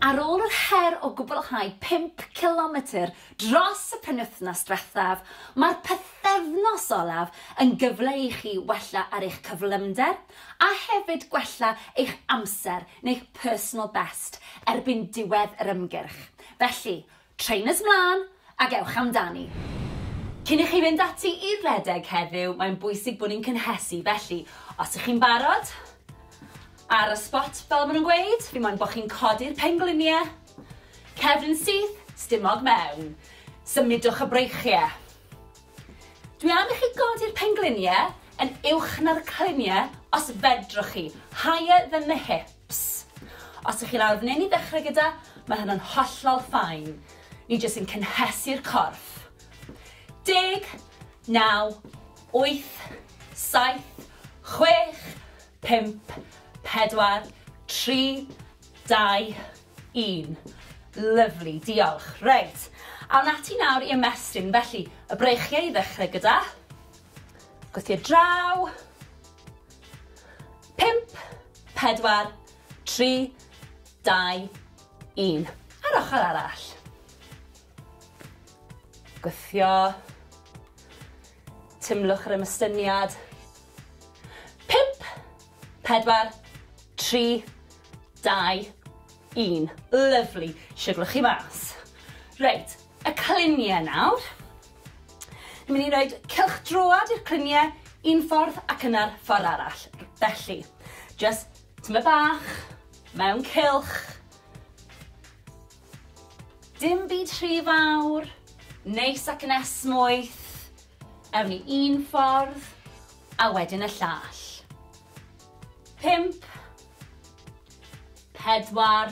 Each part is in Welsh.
Ar ôl yr her o gwblhau pump cilometr dros y penwythnos diwethaf, mae'r pythefnos olaf yn gyfle i chi wella ar eich cyflymder a hefyd gwella eich amser neu'ch personal best erbyn diwedd yr ymgyrch, felly Trainers mlân ac ewch amdani! Cyn i chi fynd ati i redeg heddiw, mae'n bwysig bod ni'n cynhesu, felly os ych chi'n barod, ar y spot fel maen nhw'n gweud, fi moyn bod chi'n codi'r pengliniau, cefn yn syth, stumog mewn, symudwch y breichiau. Dwi am i chi godi'r pengliniau yn uwch na'r cliniau os fedrwch chi, higher than the hip. Ps. Os ych chi'n arwr neu'n i ddechrau gyda, mae hyn yn hollol fine. Ni jyst yn cynhesu'r corff. Deg, naw, wyth, saith, chwech, pump, pedwar, tri, dau, un. Lyfli, diolch. Reit, awn ati nawr i ymestyn. Felly, y breichiau i ddechrau gyda. Gweithio i'r draw. Pump, pedwar, tri, dau, un. A'r ochr arall. Gweithio. Tymlwch yr ymystyniad. Pump, pedwar, tri, dau, un. Lyfli. Siwglwch chi mas. Reit, y cliniau nawr. Dwi'n mynd i roed cylchdroad i'r cluniau un ffordd ac yna'r ffordd arall. Felly, just tyma bach, mewn cylch. Dim byd rhy fawr, neis ac yn esmwyth. Ewn ni un ffordd, a wedyn y llall. Pimp. Pedwar.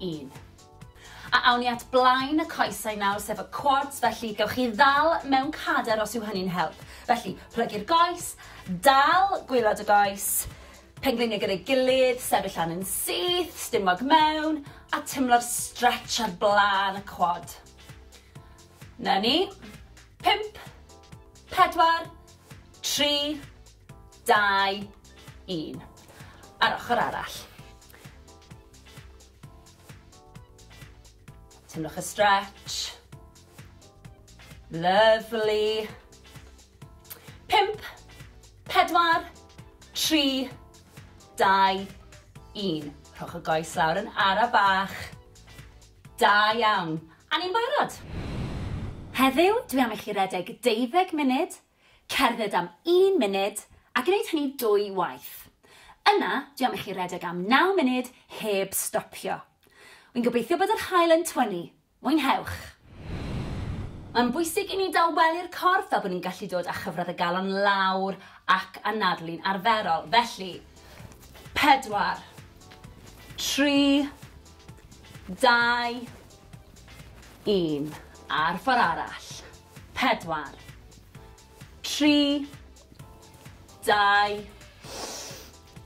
un. A awn ni at blaen y coesau nawr, sef y quads, felly gewch chi ddal mewn cader os yw hynny'n help. Felly, plygu'r goes, dal gwylod y goes, pengliniau gyda'i gilydd, sefyll lan yn syth, stumog mewn, a timlo'r stretch ar blaen y quad. Na ni. Pimp, pedwar, tri, dau, un. A'r ochr arall. Teimlwch y stretch. Lovely. Pimp, pedwar, tri, dau, un. Rhowch y goes lawr yn ara bach. Da iawn. A ni'n barod. Heddiw, dwi am i chi redeg deuddeg munud Cerdded am un munud a gwneud hynny dwy waith. Yna, dwi am i chi redeg am naw munud heb stopio. Wi'n gobeithio bod yr haul yn twynnu. Mwynhewch! Mae'n bwysig i ni dawelu'r corff fel bod ni'n gallu dod â chyfradd y galon lawr ac anadlu'n arferol. Felly, pedwar, tri, dau, un, a'r ffordd arall. Pedwar. Tri. Dau.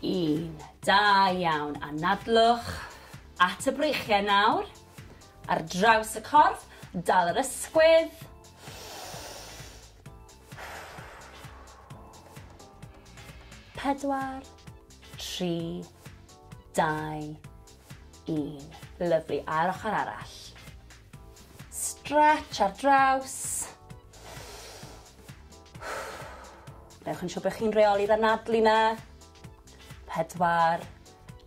Un. Da iawn. Anadlwch at y breichiau nawr. Ar draws y corff, dal yr ysgwydd. Pedwar. Tri. Dau. Un. Lyflu. A'r ochr arall. Stretch ar draws. Newch yn siŵr bod chi'n reoli'r anadlu na. Pedwar,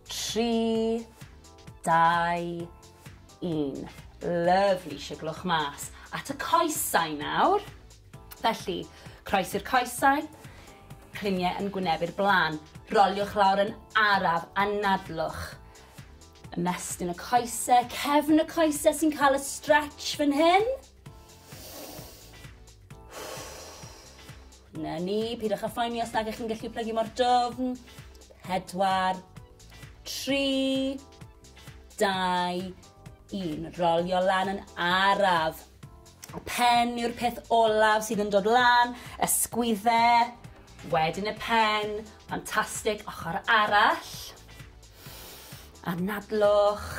tri, dau, un. Lyfli, siglwch mas. At y coesau nawr. Felly, croes i'r coesau, cliniau yn gwnebu'r blaen. Roliwch lawr yn araf, anadlwch. Ymestyn y coese, cefn y coese sy'n cael y stretch fan hyn. Na ni, pidwch â phoeni os nag ych chi'n gallu plygu mor dofn. Pedwar, tri, dau, un. Rolio lan yn araf. Y pen yw'r peth olaf sydd yn dod lan, y sgwydde, wedyn y pen, ffantastig, ochr arall. Anadlwch,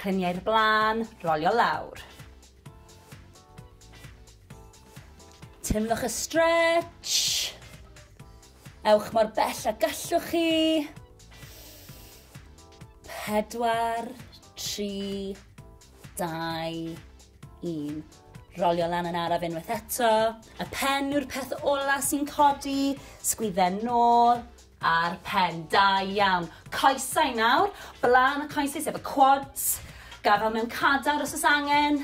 clymu i'r blaen, rolio lawr. Teimlwch y stretch. Ewch mor bell a gallwch chi. Pedwar, tri, dau, un. Rolio lan yn araf unwaith eto. Y pen yw'r peth ola sy'n codi. Sgwydden nôl, Ar pen, da iawn. Coesau nawr, blaen y coesau sef y quads, gafael mewn cadar os oes angen,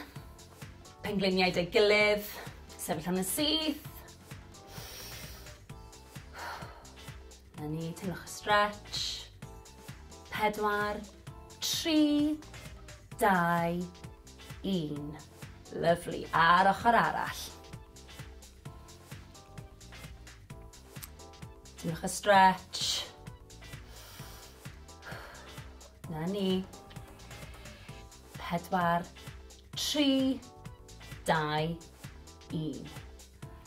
pengliniau deu gilydd, sefyll yn y syth. Na ni, teimlwch y stretch. Pedwar, tri, dau, un. Lyflu, a'r ochr arall. Diolch y stretch. Na ni. Pedwar, tri, dau, un.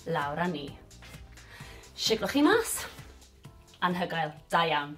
Lawr â ni. Siglwch chi mas. Anhygoel, da iawn.